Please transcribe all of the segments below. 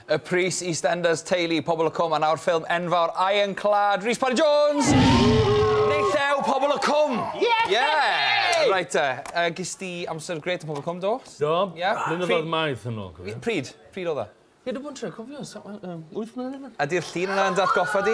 Y pris EastEnders, Teulu, Pobl y Cwm a nawr ffilm enfawr Iron Clad, Rhys Parry Jones! Neithiau, Pobl y Cwm! Yeah! yeah. Right te, uh, gys di amser gret yn Pobl y Cwm, do? Do, yeah. blynyddoedd maith yn ôl. Pryd? Pryd oedd e? Ie, dwi'n bod yn trio cofio, 8 mlynedd yma. Ydy'r llun yna'n dath goffa di?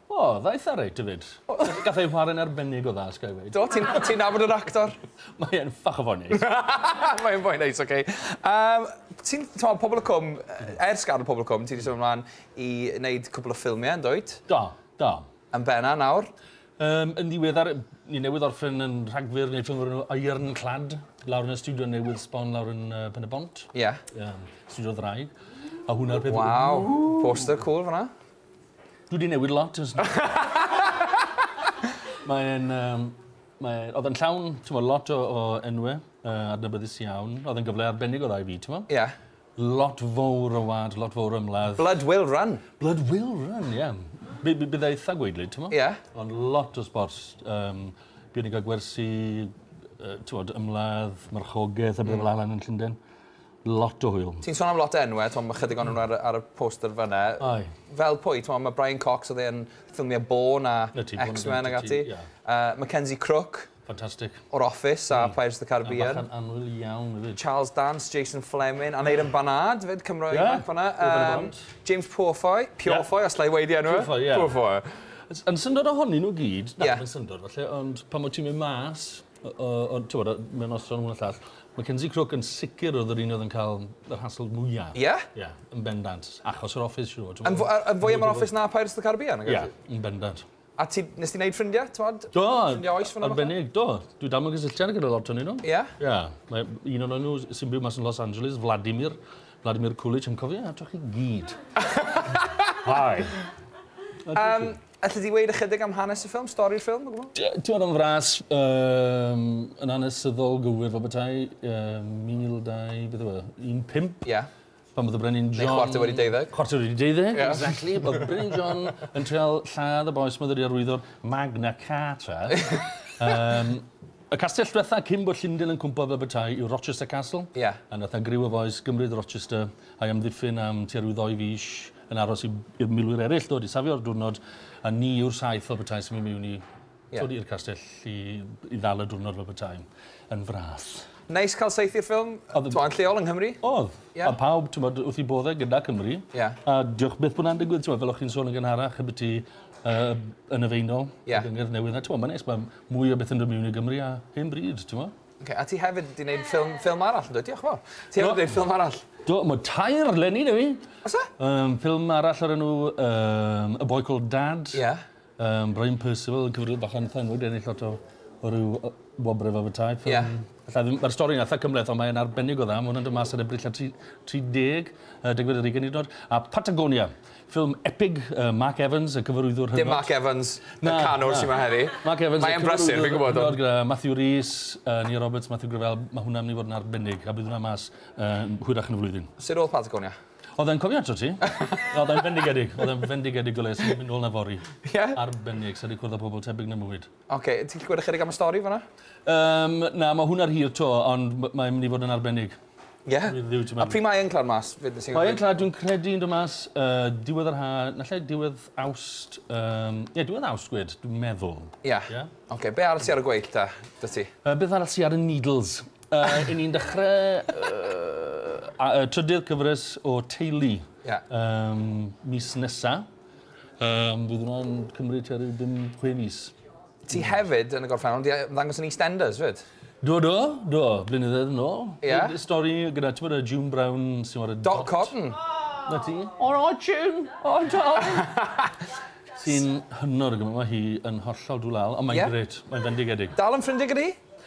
O, dda eitha reit efyd. Gall ei chwarae'n arbennig o dda, os ga i weud. Do, ti'n ti nabod yr actor? Mae e'n ffach o fo'n neis. Mae e'n fo'n neis, oce. Okay. Um, ti'n, ti'n pobl y cwm, ers gadw pobl y cwm, ti'n wedi symud ymlaen i wneud cwbl o ffilmiau, yn dweud? Do, do. Yn benna nawr? Um, yn ddiweddar, ni newydd orffen yn rhagfyr neu ffilm o'r enw Ironclad, lawr yn y studio newydd sbon lawr yn uh, Pen y Bont. Ie. Yeah. Um, studio ddraig. A hwnna'r peth... Waw, poster cool fyna. Dwi wedi newid lot ers Mae'n... yym mae... Oedd e'n llawn t'mod lot o o enwe yy adnabyddus iawn. Oedd e'n gyfle arbennig o dda i fi t'mo'? Ie. Lot fowr o wa'd lot fowr o ymladd. Blood will run. Blood will run ie. By- by- bydda itha gwaedlyd t'mo'? Ie. Ond lot o sbort yym buon ni'n ga'l gwersi yy t'mod ymladd marchogaeth a pethe fel 'a lan yn Llunden. Lot o hwyl. Ti'n son am lot o enwe, t'mo' ma' chydig onyn nw ar y ar y poster fyn 'na. Aye. Fel pwy? T'mo' ma' Brian Cox o'dd e yn ffilmie Bourne a X-Men ag ati. Yy Mackenzie Crook. Fantastic. O'r Office a Pirates of the Caribbean. A bachan annwyl iawn hefyd. Charles Dance, Jason Fleming, Aneurin Barnard 'fyd, Cymro ifanc fyn 'na. Ie, Urban Avant. James Purefoy, Purefoy os 'llai weud 'i enw e. Purefoy, ie. Purefoy. Yn syndod ohonyn nw gyd, na, dim yn syndod falle, ond pan wyt ti'n mynd mas Ond, ti'n bod, mae'n noson hwn a llall. Mae Kinsey Crook yn sicr oedd yr un oedd yn cael yr hasl mwyaf. Ie? Ie, yn bendant. Achos yr office, siwr. Yn fwy am yr office na Pirates of the Caribbean? Ie, yn bendant. A ti, nes ti wneud ffrindiau, ti'n bod? Do, arbennig, do. Dwi dal mewn cysylltiad gyda lot o'n un nhw. Ie? Ie. Mae un o'n nhw sy'n byw mas yn Los Angeles, Vladimir, Vladimir Kulich, yn cofio, a drych chi gyd. Hi. Um, Allet ti weud ychydig am hanes y ffilm, stori'r ffilm o gwbl? Ti oedd o'n fras yym yn anesyddol gywir fel petai yym 1200 beth yw e? 15? Ie. Pan oedd y Brenin John... Neu chwarter wedi deuddeg. Chwarter wedi deuddeg, exactly. Oedd y Brenin John yn trial lladd y bois myfyri arwyddo'r Magna Carta. Yym y castell dwetha cyn bod Llundain yn cwmpo fel petai yw Rochester Castle. Ie. A nath 'na griw o fois gymryd Rochester a'i amddiffyn am tua rhyw ddou fis. yn aros i, i'r milwyr eraill ddod i safio'r diwrnod, a ni yw'r saith fel petai sy'n mynd mewn i, yeah. i'r castell i, i ddal y diwrnod fel petai yn fras. Neis cael saith i'r ffilm, to'n lleol yng Nghymru. Oedd, yeah. a pawb, ti'n bod, wrth i boddau gyda Cymru. Yeah. A diolch beth bod na'n digwydd, ti'n bod, fel o'ch chi'n sôn yn gynharach, y byti uh, yn y feinol, yeah. y gyngor newydd. A ti'n bod, mae'n neis, mae mwy o beth yn dod mewn i Gymru a hen bryd, ti'n bod? Oce, a ti hefyd wedi gwneud ffilm, ffilm arall yn dweud, diolch yn fawr. Ti hefyd wedi gwneud ffilm arall? Do, mae tair lenni da fi. Os e? Um, ffilm arall ar enw um, A Boy Called Dad. Ie. Yeah. Um, Brian Percival yn cyfrif bach yn thanwyd, ennill lot o, o ryw wobrau fel bethau. Ie. Yeah. Mae'r stori yn eitha cymleth, ond mae'n arbennig o dda. Mae hwnna'n dod mas ar y brilla 30, uh, degfed ar ugen hyd yn oed. A Patagonia, Ffilm epig, yy Mark Evans, y cyfarwyddwr hynod. Dim Mark Evans, y canwr sy'ma heddi. Mark Evans, y cyfarwyddwr hynod gyda Matthew Rhys, yy Nia Roberts, Matthew Grevell, ma' hwnna'n myn' i fod yn arbennig, a bydd hwnna mas yn hwyrach yn y flwyddyn. Sud o'dd Patagonia? O'dd e'n cofio ato ti. O'dd e'n fendigedig, o'dd e'n fendigedig o le, swn i'n mynd nôl 'na fory. Ie? Arbennig, sa 'di cwrdd â pobol tebyg 'na 'im bywyd. Oce, ti'n gallu gweud ychydig am y stori fanna? Yym, na, ma' hwnna hir 'to, ond m- mae'n mynd i fod yn arbennig. Ie? Dwi rili wedi A pryd mae e'n clawr mas? Be' be' sy'n Mae e'n clawr, dwi'n credu yn dod mas yy diwedd yr ha', naill diwedd Awst, yym, ie, diwedd Awst gwed, dwi'n meddwl. Ie. Ie? Oce, be' arall sy ar y gweill ta, 'da ti? Yy beth arall sy ar y Needles? Yy, 'yn ni'n dechre yy a- y trydydd cyfres o Teulu. Ie. Yym, mis nesa. Yym, fydd hwnna'n cymryd tua ryw bum, chwe mis. Ti hefyd, yn y gorffennol, di ddangos yn EastEnders, fyd? Do, do, do, blynyddoedd yn ôl. Ie? Y stori gyda, ti'n bod, y June Brown, sy'n bod y... Dot Cotton! Na ti. O, o, June! O, do! Sy'n hynod o gymryd, mae hi yn hollol dwlal, ond mae'n grêt, mae'n fendigedig. Dal yn ffrindiau gyda hi?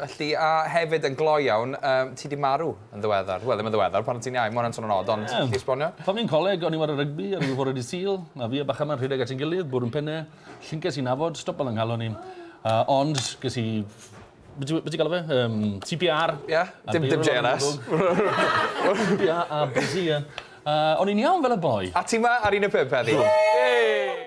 Felly, a hefyd yn gloi iawn, um, ti di marw yn ddiweddar. Wel, ddim yn ddiweddar, pan ti'n iau, mae hwnna'n swn yn od, ond yeah. ti esbonio? Pan fi'n coleg, o'n i'n wario rygbi ar ôl fore di sil, a fi a bach yma'n rhedeg at yn gilydd, bwrw'n penne, llynces i'n afod, stop al ynghalon i. Uh, ond, ges i Beth ti'n galw fe? Um, CPR. Ie, yeah, dim, dim JLS. CPR a busy, ie. Uh, o'n i'n iawn fel y boi. A ti ma ar un y pump heddi? Ie!